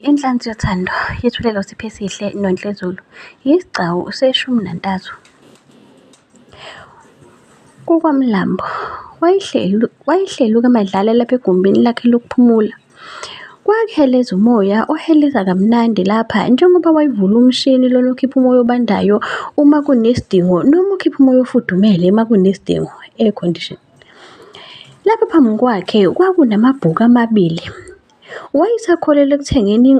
Inhlansi yothando yethulelwa uSiphe Sihle Nontlezulu yisigcawu seshumi nantathu. KukwaMlambo wayehleluka emadlala lapha egumbini lakhe lokuphumula. Kwakuheleza umoya oheleza kamnandi lapha njengoba wayevula umshini lona okhipha umoya obandayo uma kunesidingo noma ukhipha umoya ofudumele uma kunesidingo, air condition. Lapha phambi kwakhe kwakunamabhuku amabili Wayesakholelwa ekuthengeni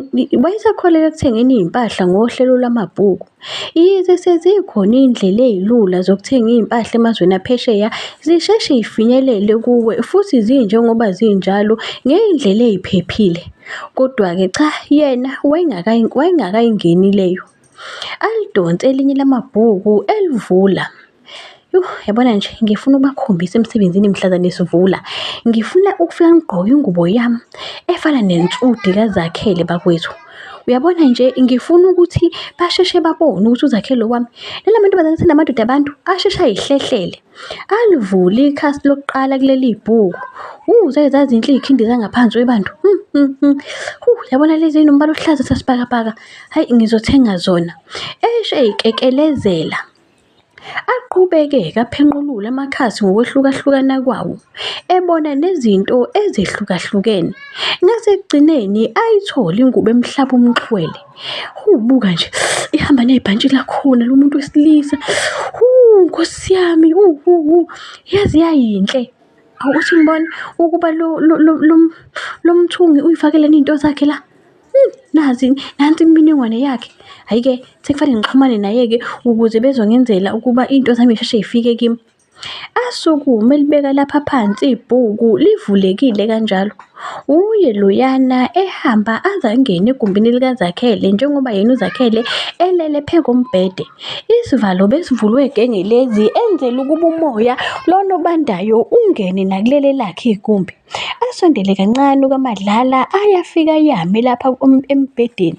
wayesakholelwa ekuthengeni izimpahla ngohlelo lwamabhuku. Yize sezikhona izindlela ezilula zokuthenga izimpahla emazweni aphesheya, zisheshe zifinyelele kuwe futhi zinjengoba zinjalo ngezindlela eziphephile. Kodwa-ke cha yena wayengakayingeni leyo. Alidonse elinye lamabhuku elivula. Yuh, yabona nje ngifuna ukubakhombisa emsebenzini mhlazane sivula. Ngifuna ukufika ngigqoke ingubo yami efana nensudi kaZakhele bakwethu. Uyabona nje ngifuna ukuthi basheshe babone ukuthi uZakhele wami lala mantombazane senamadoda abantu asheshe ayihlehlele. Alivule ikhasi lokuqala kuleli bhuku. Uh, zake zazinhle izikhindi zangaphansi webantu. Hmm, hmm, hmm. Huh, yabona lezi nombala ohlaza sasibhakabhaka. Hayi ngizothenga zona. Eshe ikekelezela. Aqhubeke kaphenqulula amakhasi ngokwehlukahlukana kwawo, ebona nezinto ezehlukahlukene. Ngasekugcineni ayithole ingubo emhlaba umxhwele. Huu, buka nje, ihamba nebhantshi lakhona lo muntu wesilisa. Huu, Nkosi yami, huu, huu, huu, yaze yayinhle. Awuthi ngibona ukuba lo, lo, lo, lo, lo mthungi uy'fakeleni iy'nto zakhe la? Hmm, nazi nansi imininingwane yakhe hhayi-ke sekufanele ngixhumane naye-ke ukuze bezongenzela ukuba into zami isheshe ifike kimi asukume libeka lapha phansi ibhuku livulekile kanjalo uye loyana ehamba aze angene egumbini likazakhele njengoba yena uzakhele elele phe kombhede isivalo besivulwe gengelezi enzela ukuba umoya lona obandayo ungene nakuleli lakhe igumbi Asondele kancane uKaMadlala ayafika yame lapha embhedeni.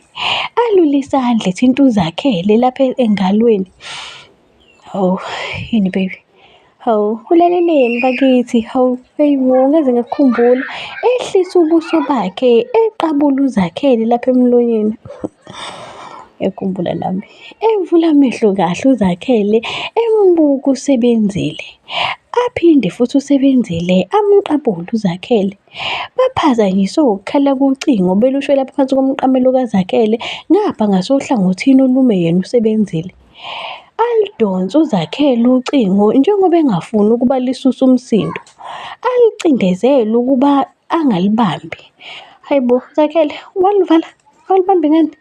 Alule isandla ethi into zakhe le lapha engalweni. Hawu yini baby? Hawu ulaleleni bakithi? Hawu eyi wo ngeze ngakukhumbula. Ehlisa ubuso bakhe eqabula uZakhele lapha emlonyeni. Ngiyakhumbula nami. Evula amehlo kahle uZakhele embuka usebenzile. Aphinde futhi usebenzile amqabule uZakhele. Baphazanyiswe ukukhala kocingo belusho lapha phansi komqamelo kaZakhele ngapha ngasohlangothini olume yena usebenzile. Aludonse uZakhele ucingo njengoba engafuni ukuba lisusa umsindo. Alucindezele ukuba angalibambi hayi bo zakele walivala awulibambi ngani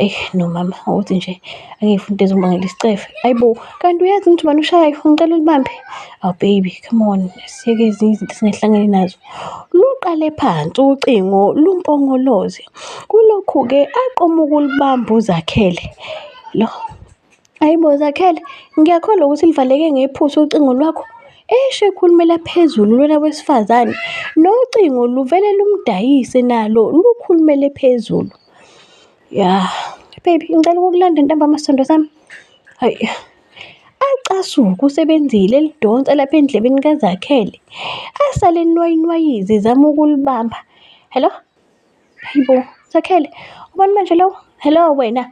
eyi no mama ukuthi nje angifuni into ezomangela isicefe hayi bo kanti uyazi ukuthi ubani ushayayo ngicela ulibambe aw oh, baby come on siyeke ezinye izinto singahlangani nazo luqale phansi ucingo lumpongoloze kulokhu-ke aqoma ukulibamba uzakhele lo Hayi bo Zakhele, ngiyakholwa ukuthi livaleke ngephutha ucingo lwakho. Eshe ekhulumela phezulu lona wesifazane, nocingo luvele lumdayise nalo lukhulumele phezulu. Ya, baby ngicela ukukulanda ntambama sithandwa sami. Hayi. Acasuke usebenzile elidonsa lapha endlebeni kaZakhele. Asale enwayinwayiza ezama ukulibamba. Hello? Hayi bo, Zakhele, ubani manje lowo? Hello wena?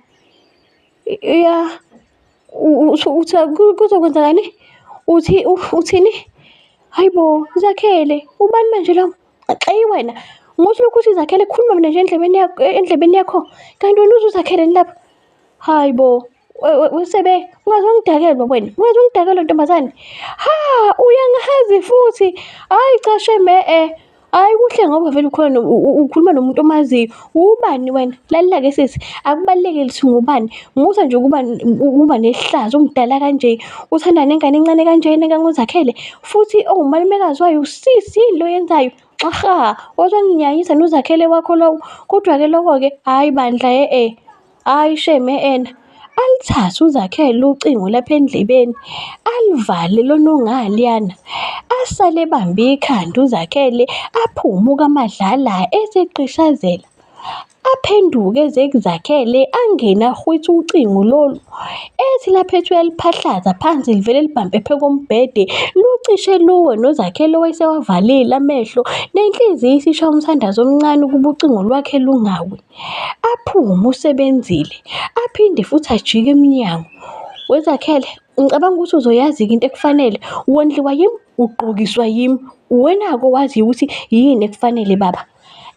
ya kuzokwenzakani uthi uthini hayi bo zakhele ubani manje lo xeyi wena ngothi lokhu uthi zakhele khuluma mina nje endlebeni yakho endlebeni yakho kanti wena uzuzakheleni lapha hayi bo usebe ungaze ungidakelwe wena ungaze ungidakelwe ntombazane ha uyangahazi futhi hayi cashe me-e Hayi kuhle ngoba vele ukhona ukhuluma nomuntu omaziyo. Ubani wena? Lalela ke sisi, akubaluleke lithi ngubani. Musa nje ukuba ukuba nehlazo umdala kanje. Uthanda nengane encane kanje nengango zakhele. Futhi ongumalumekazi wayo usisi yini lo yenzayo? Xaha, wazonginyanyisa nozakhele wakho lowo. Kodwa ke lokho ke hayi bandla he e. Hayi shame ena alithathe uzakhele ucingo lapha endlebeni alivale lona ongaliyana asale ebambe ikhanda uzakhele aphume ukamadlala eseqishazela aphenduke ezekuzakhele angene ahwithe ucingo lolu ethi lapha ethi uyaliphahlaza phansi livele libhambe phe kombhede lucishe luwe nozakhele owayesewavalile amehlo nenhliziyo isisha umthandazo omncane ukuba ucingo lwakhe lungawi Aphume uSebenzile aphinde futhi ajike emnyango. WeZakhele, Ngicabanga ukuthi uzoyazi-ke into ekufanele. Wondliwa yimi, ugqokiswa yimi. Uwena-ke owaziyo ukuthi yini ekufanele baba.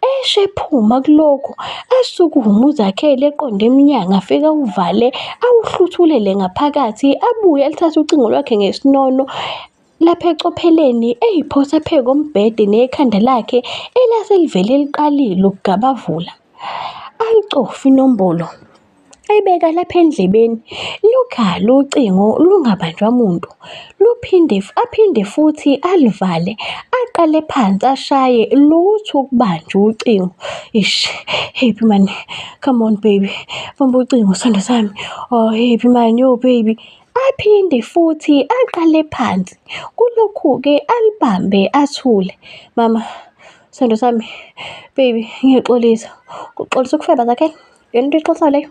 Esho ephuma kulokho, asukume uZakhele eqonde emnyango afike awuvale, awuhluthulele ngaphakathi. Abuye alithathe ucingo lwakhe ngesinono, Lapha ecopheleni eyiphosa phe kombhede nekhanda lakhe elase livele liqalile ukugabavula. Ayicofi inombolo. Ayibeka lapha endlebeni. Lukhala ucingo lungabanjwa muntu. Luphinde aphinde futhi alivale. Aqale phansi ashaye lutho ukubanja ucingo. Ish, happy man. Come on baby. Bamba ucingo sandwa sami. Oh happy man, yo baby. Aphinde futhi aqale phansi. Kulokhu-ke alibambe athule. Mama, sando sami, baby, ngiyaxolisa. Uxolisa ukufeba zakhe? Yona into exosayo leyo?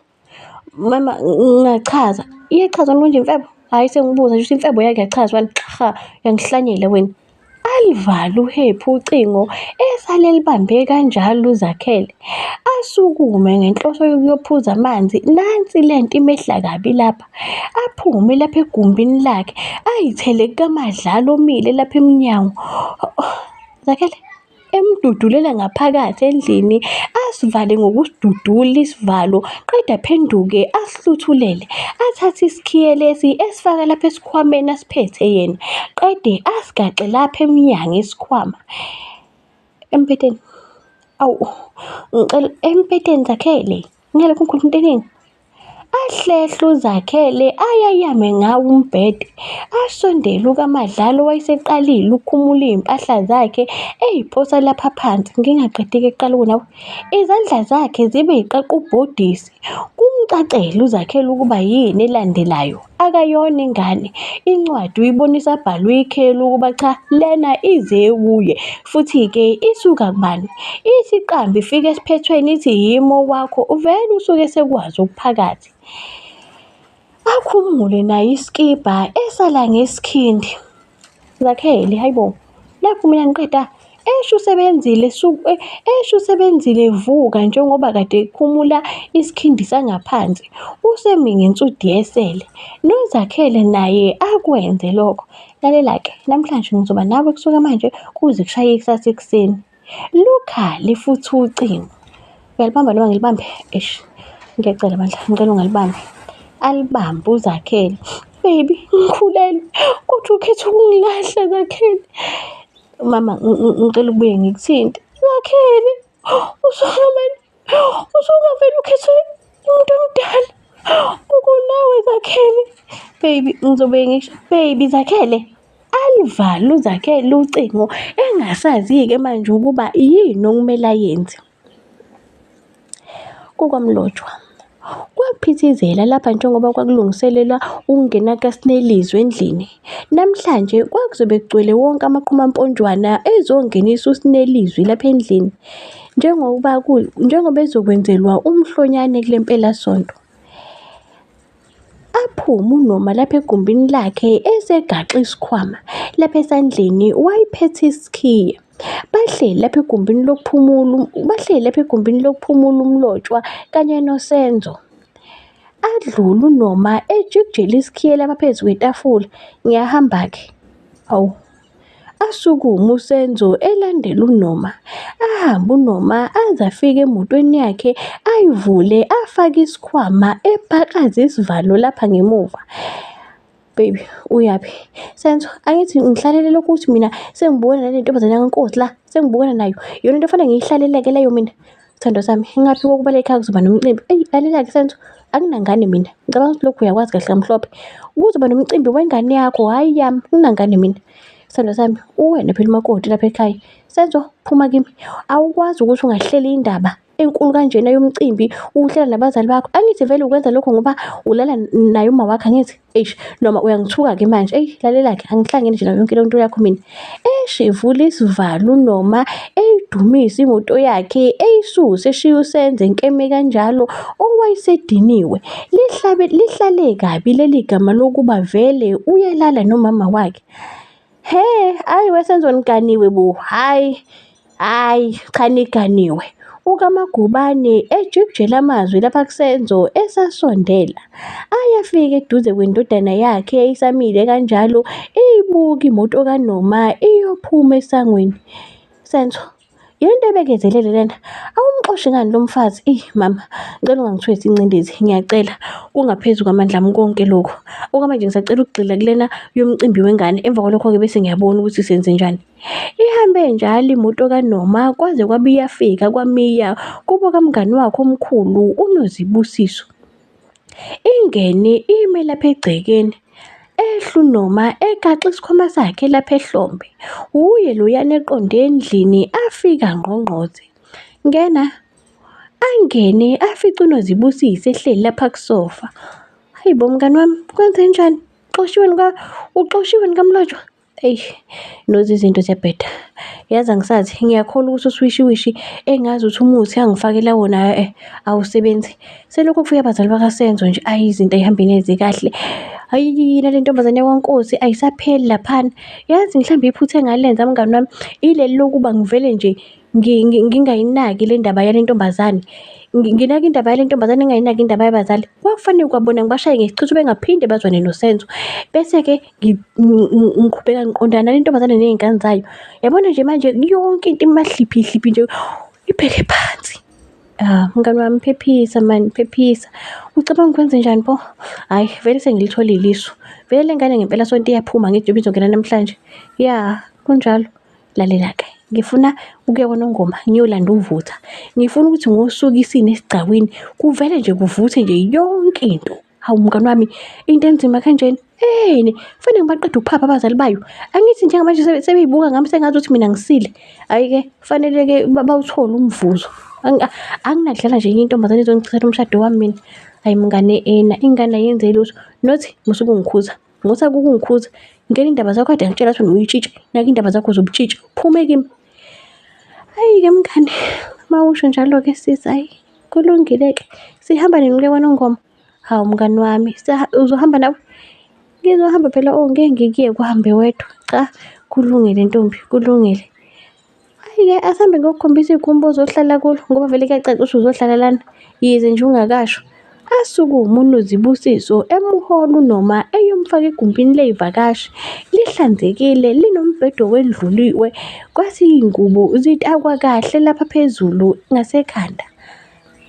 Mama, ngingachaza. Iyachaza konje imfebo? Hhayi sengibuza nje ukuthi imfebo yake yachazwa yini? Cha, uyangihlanyela wena. Alivala uHephu ucingo esale elibambe kanjalo uZakhele. Asukume ngenhloso yokuyophuza amanzi nansi lento imehla kabi lapha. Aphume lapha egumbini lakhe ayithele kukaMadlala omile lapha emnyango. Zakhele! emdudulela ngaphakathi endlini asivale ngokusidudula isivalo qeda phenduke asihluthulele athathe isikhiye lesi esifaka lapha esikhwameni asiphethe yena qede asigaxe lapha emnyango isikhwama empeteni awu ngicela empeteni zakhele ngalokho ngikhuluma into eningi Ahlehla uZakhele ayayame ngawo umbhede, asondele uKaMadlala owayeseqalile ukukhumula izimpahla zakhe eziphosa lapha phansi ngingaqedeki ekuqala ukunawa. Izandla zakhe zibe ziqaqa ubhodisi, kumcacele uZakhele ukuba yini elandelayo. Akayona ingane, incwadi uyibonisa abhalwe ikheli ukuba cha lena ize kuye. Futhi-ke isuka kubani? Ithi iqambe ifike esiphethweni ithi yimi okwakho, uvele usuke esekwazi okuphakathi. Akhumule naye isikibha esala ngesikhindi. Zakhele, hayibo. Nakhu mina ngiqeda esho usebenzile eh, esho usebenzile vuka njengoba kade ekhumula isikhindi sangaphansi usemi ngensudi yesele nozakhele naye akwenze lokho lalela-ke namhlanje ngizoba nawe kusuka manje kuze kushaye ikusasa ekuseni Lukha lifutha ucingo. Uyalibamba noma ngilibambe? Eish. Ngiyacela bandla, ngicela ungalibambi. Alibambe uZakhele. Baby, ngikhulelwe. Kodwa ukhetha ukungilahla Zakhele. Mama, ngicela ubuye ngikuthinte. Zakhele, usona manje. usungavele ukhethe umuntu omdala ukunawe zakhele baby ngizobe ngisho baby zakhele alivale uzakhele ucingo engasazi-ke manje ukuba yini okumele ayenze kukwamlotshwa Kwaphithizela lapha njengoba kwakulungiselelwa ukungena kaSnelizwe endlini. Namhlanje kwakuzobe kugcwele wonke amaqhumamponjwana ezongenisa uSnelizwi lapha endlini njengoba njengoba ezokwenzelwa umhlonyane kule mpelasonto. Aphume uNoma lapha egumbini lakhe esegaxe isikhwama. Lapha esandleni wayephethe isikhiye. Bahleli lapha egumbini lokuphumula bahleli lapha egumbini lokuphumula uMlotshwa kanye noSenzo. Adlula uNoma ejikijela isikhiyelo abaphezu kwetafula. Ngiyahamba-ke. Awu. Asukume uSenzo elandela uNoma. Ahambe uNoma aze afike emotweni yakhe ayivule afake isikhwama epakaze isivalo lapha ngemuva. baby uyaphi senzo angithi ngihlalele lokhu ukuthi mina sengibukana nale ntombazane yangenkosi la sengibukana nayo yona into efanele ngiyihlaleleke leyo mina sithando sami ngingaphi kokuba le khaya kuzoba nomcimbi eyi lalela-ke senzo anginangane mina ngicabanga ukuthi lokhu uyakwazi kahle kamhlophe kuzoba nomcimbi wengane yakho hhayi yami nginangane mina sithando sami uwena phela umakoti lapha ekhaya senzo phuma kimi awukwazi ukuthi ungahleli indaba enkulu kanjena yomcimbi uhlala nabazali bakho angithi vele ukwenza lokho ngoba ulala naye uma wakhe angithi eish noma uyangithuka ke manje eyi lalela ke angihlangene nje nayo yonke le nto yakho mina eish evula isivalo noma eyidumisa imoto yakhe eyisuse eshiya usenze nkeme kanjalo owayesediniwe lihlabe lihlale kabi leli gama lokuba vele uyalala nomama wakhe He, ayi wesenzo niganiwe bo. Hayi. Hayi, cha niganiwe. UKaMagubane ejikijela amazwi lapha kuSenzo esasondela. Ayafika eduze kwendodana yakhe eyisamile kanjalo iyibuka imoto kaNoma iyophuma esangweni. Senzo, Yonto ebekezelele lena. Awumxoshi ngani lo mfazi? Ey mama, ngicela ungangithwesi incindezi, ngiyacela. Kungaphezu kwamandla ami konke lokhu. Okwamanje ngisacela ukugxila kulena yomcimbi wengane. Emva kwalokho-ke bese ngiyabona ukuthi senze njani. Ihambe njalo imoto kaNoma kwaze kwabe iyafika kwaMiya kubo kamngani wakhe omkhulu uNozibusiso. Ingene ime lapha egcekeni ehlu noma egaxe isikhwama sakhe lapha ehlombe. Wuye loyana eqonde endlini afika ngqongqoze. Ngena. Angene afice uNozibusise ehleli lapha kusofa. Hayibo mngani wami kwenzenjani? Uxoshiwe nika uxoshiwe nikamlotshwa? Eish nozi izinto ziyabheda yazi angisazi ngiyakholwa ukuthi uswishiwishi engazi ukuthi umuthi angifakela wona eh awusebenzi selokhu kufika abazali bakasenzo nje ayi izinto ayihambi neze kahle ayi nale ntombazane yakwankosi ayisapheli laphana yazi mhlawumbe iphutha engalenza mngani wami ileli lokuba ngivele nje ngingayinaki le ndaba yale ntombazane nginaka indaba yale ntombazane engayinaki indaba yabazali kwakufanele kwabona ngibashaye ngesichitho bengaphinde bazwane nosenzo bese-ke ngiqhubeka ngiqondana nentombazane ney'ngane zayo yabona nje manje yonke into imahliphihliphi nje ibheke phansi ah, mngani wami phephisa mani phephisa ucabanga ukwenze njani pho hhayi vele sengilitholile isu vele le ngane ngempela sonto iyaphuma ngithi njengoba izongena namhlanje ya kunjalo lalela-ke ngifuna ukuya kwanongoma ngiyolanda uvutha ngifuna ukuthi ngosuku isini esigcawini kuvele nje kuvuthe nje yonke into Hawu mngani wami, into enzima kanjena. Yini? Kufanele ngibaqede ukuphapha abazali bayo. Angithi njengamanje sebe- sebeyibuka ngami sengathi ukuthi mina ngisile. Hhayi-ke, kufanele-ke ba- bawuthole umvuzo. Angi- a- Anginakudlala nje enye intombazane ezongichithela umshado wami mina. Hhayi mngane ena, ingane ayenze lutho. Not musa ukungikhuza. Ngothi akukungikhuza. Ngena indaba zakho kade ngitshela ukuthi uyitshitshi. Naka indaba zakho zobutshitshi. Phume kimi. Hhayi-ke mngani, uma usho njalo-ke sisi hhayi, kulungile-ke. Sihamba nini ukuya KwaNongoma? Hawu mngani wami, uzohamba nawe? Ngizohamba phela oh, ngeke ngikuyeke uhambe wedwa. Cha, kulungile ntombi, kulungile. Hhayi-ke asihambe ngiyokukhombisa igumbi ozohlala kulo ngoba vele kuyacaca ukuthi uzohlala lana, yize nje ungakasho. Asukume uNozibusiso emuhola uNoma eyomfaka egumbini ley'vakashi. Lihlanzekile, linombhede owendluliwe, kwathi iy'ngubo zitakwa kahle lapha phezulu ngasekhanda.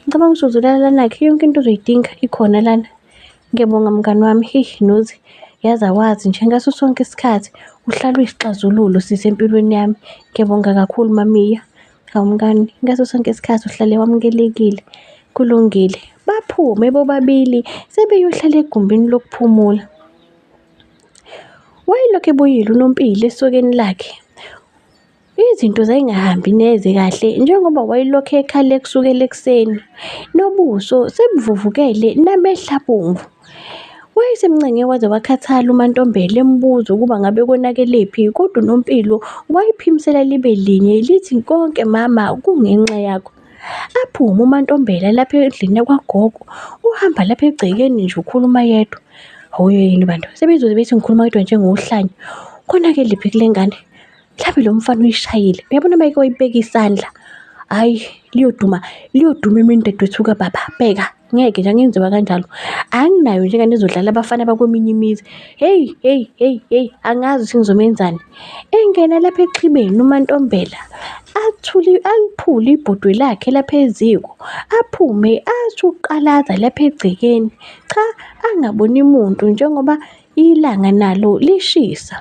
Ngicabanga ukuthi uzolala lanakhe, yonke into ozoyidinga ikhona lana. Ngiyabonga mngani wami, heyi Nozi, yazi awazi nje ngaso sonke isikhathi uhlala uyisixazululo sisi empilweni yami. Ngiyabonga kakhulu mamiya. Hawu mngani, ngaso sonke isikhathi uhlale wamukelekile. Kulungile, baphume bobabili sebeyohlala egumbini lokuphumula. Wayelokhu ebuyile uNompilo esokeni lakhe. Izinto zayingahambi neze kahle njengoba wayelokhu ekhale kusukela ekuseni. Nobuso sebuvuvukele namehla abomvu. Wayesemncenge waze wakhathala uMaNtombela embuza ukuba ngabe konakelephi kodwa uNompilo wayiphimisela libe linye lithi konke mama kungenxa yakho. Aphume uMaNtombela lapha endlini yakwagogo uhamba lapha egcekeni nje ukhuluma yedwa. Hhawu yini bantu sebezoze bethi ngikhuluma yedwa njengohlanya, konakelephi kule ngane? mhlawumbe lo mfana uyishayile uyabona mayike wayibeka isandla hayi liyoduma liyoduma imini dadwethu kababa bheka ngeke nje angenziwa kanjalo anginayo nje ngane ezodlala abafana bakweminye imizi heyi heyi heyi heyi angazi ukuthi ngizomenzani engena lapha exhibeni umantombela athuli aliphule ibhodwe lakhe lapha eziko aphume athi uqalaza lapha egcekeni cha angaboni muntu njengoba ilanga nalo lishisa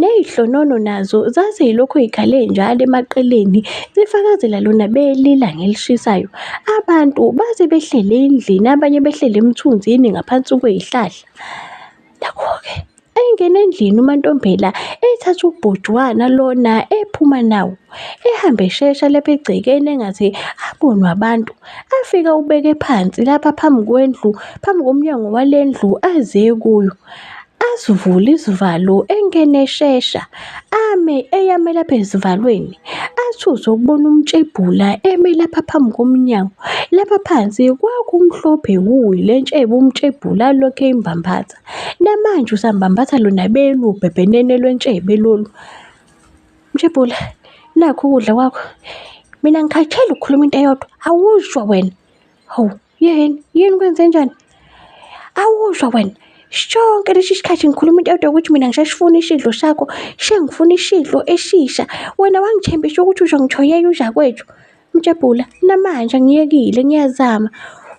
Ley'hlonono nazo zazilokhu zikhale njalo emaqeleni zifakazela lona belila ngelishisayo. Abantu base behleli endlini abanye behleli emthunzini ngaphansi kwey'hlahla. Nakho-ke engena endlini uMantombela ethatha ubhujwana lona ephuma nawo ehambe eshesha lapha egcekeni engaze abonwe abantu. Afike awubeke phansi lapha phambi kwendlu, phambi komnyango wale ndlu aze kuyo. asivule izivalo engene eshesha ame eyame lapha ezivalweni athuse ukubona umtshebhula eme lapha phambi komnyango lapha phansi kwakumhlophe wuyi le ntshebe umtshebhula lokhe imbambatha namanje usambambatha lona belu bhebhenene lwentshebe lolu mtshebhula nakho ukudla kwakho mina ngikhathele ukukhuluma into eyodwa awuzwa wena hawu Yini? Yini kwenze njani? Awuzwa wena. Shonke lesi sikhathi ngikhuluma into yodwa ukuthi mina ngishashifuna isidlo sakho, shengifuna isidlo eshisha. Wena wangithembisa ukuthi uzongithoyela uzakwethu. Mjabhula, namanje ngiyekile ngiyazama.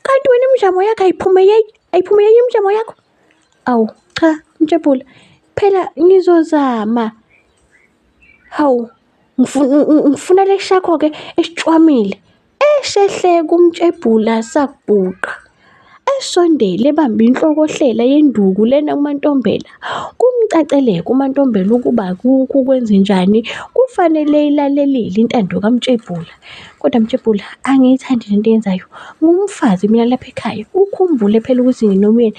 Kanti wena imizamo yakho ayiphumeleli, ayiphumeleli imizamo yakho? Awu, cha, Mjabhula, phela ngizozama. Hawu, ngifuna lesi sakho-ke esicwamile. Eshehle kumtshebhula sakubhuqa. Esondele ebambe inhlokohlela yenduku lena uMantombela. Kumcaceleka uMantombela ukuba kukho kwenzenjani kufanele ilalelile intando kamtshebhula. Kodwa mtshebhula angiyithandi lento yenzayo. Ngumfazi mina lapha ekhaya. Ukhumbule phela ukuthi nginomyeni.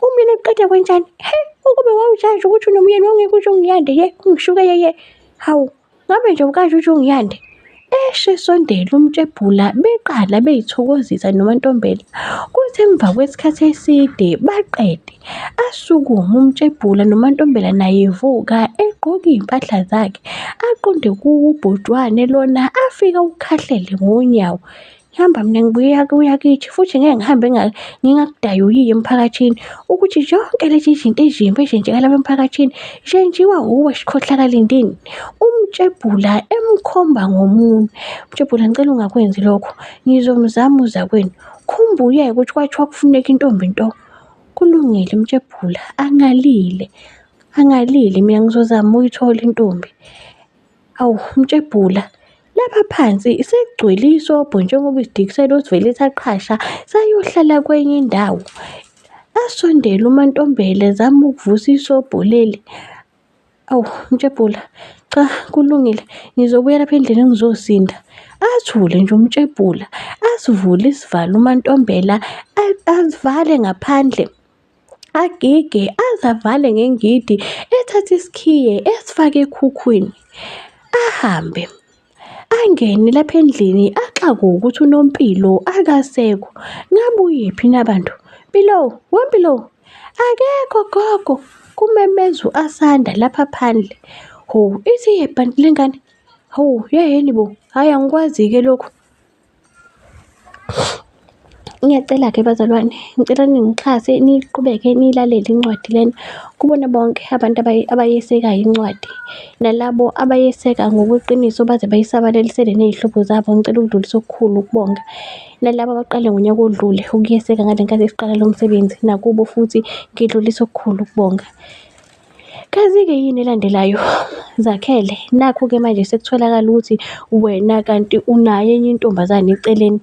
Umyeni uqeda kwenjani? He ukube wawujaji ukuthi unomyeni wawungeke usho ngiyande ye ungishuke yeye. Hawu Ngabe nje ukaJuju uNgiyande eshe esondela uMtshebhula beqala beyithokozisa noMantombela. Kuthi emva kwesikhathi eside baqede. Asukume uMtshebhula noMantombela naye evuka egqoke iy'mpahla zakhe. Aqonde kubhujwane lona afike ukhahlele ngonyawo. Hamba mina ngibuya kuya kithi futhi ngeke ngihambe ngingakudayuyiyo emphakathini ukuthi zonke lezi zinto ezimbi ezenzeka lapha emphakathini zenziwa wuwe sikhohlakalindini. Umtshebhula emkhomba ngomunwe. Umtshebhula ngicela ungakwenzi lokho. Ngizomzama uzakwenu. Khumbuyeke ukuthi kwathiwa kufuneka intombi nto. Kulungile umtshebhula angalile. Angalile mina ngizozama uyithola intombi. Awu mtshebhula lapha phansi sekugcwele isobho njengoba isidikisela osivele saqhasha sayohlala kwenye indawo. Asondele uMantombela zama ukuvusa isobho leli. Awu mtshebhula cha kulungile ngizobuya lapha endlini ngizosinda. Athule nje umtshebhula asivule isivalo uMantombela asivale ngaphandle. agige azavale ngengidi ethathe isikhiye esifake ekhukhwini ahambe angene lapha endlini axakwe ukuthi unompilo akasekho ngabuyephi nabantu mpilo wempilo akekho gogo kumemeza u-asanda lapha phandle ho ithi yebhanti lengane ho yeheni bo hhayi angikwazi-ke lokhu Ngiyacela-ke bazalwane, ngicela ningixhase niqhubeke nilalele incwadi lena. Kubona bonke abantu abayesekayo incwadi, nalabo abayeseka ngokweqiniso baze bayisabalalisele ney'hlobo zabo, ngicela ukudlulisa okukhulu ukubonga. Nalaba abaqale ngonyaka odlule ukuyeseka ngale nkathi siqala lo msebenzi, nakubo futhi ngidlulisa okukhulu ukubonga. Kazi-ke yini elandelayo? Zakhele, nakhu-ke manje sekutholakala ukuthi wena kanti unayo enye intombazane eceleni.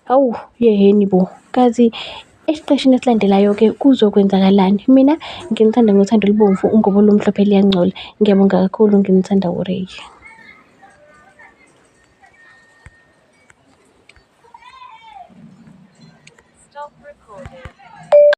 Hawu, yehheni bo! Kazi esiqeshini esilandelayo-ke kuzokwenzakalani? Mina nginithanda ngothando olubomvu, ungobo olumhlophe luyangcola. Ngiyabonga kakhulu, nginithanda uRay.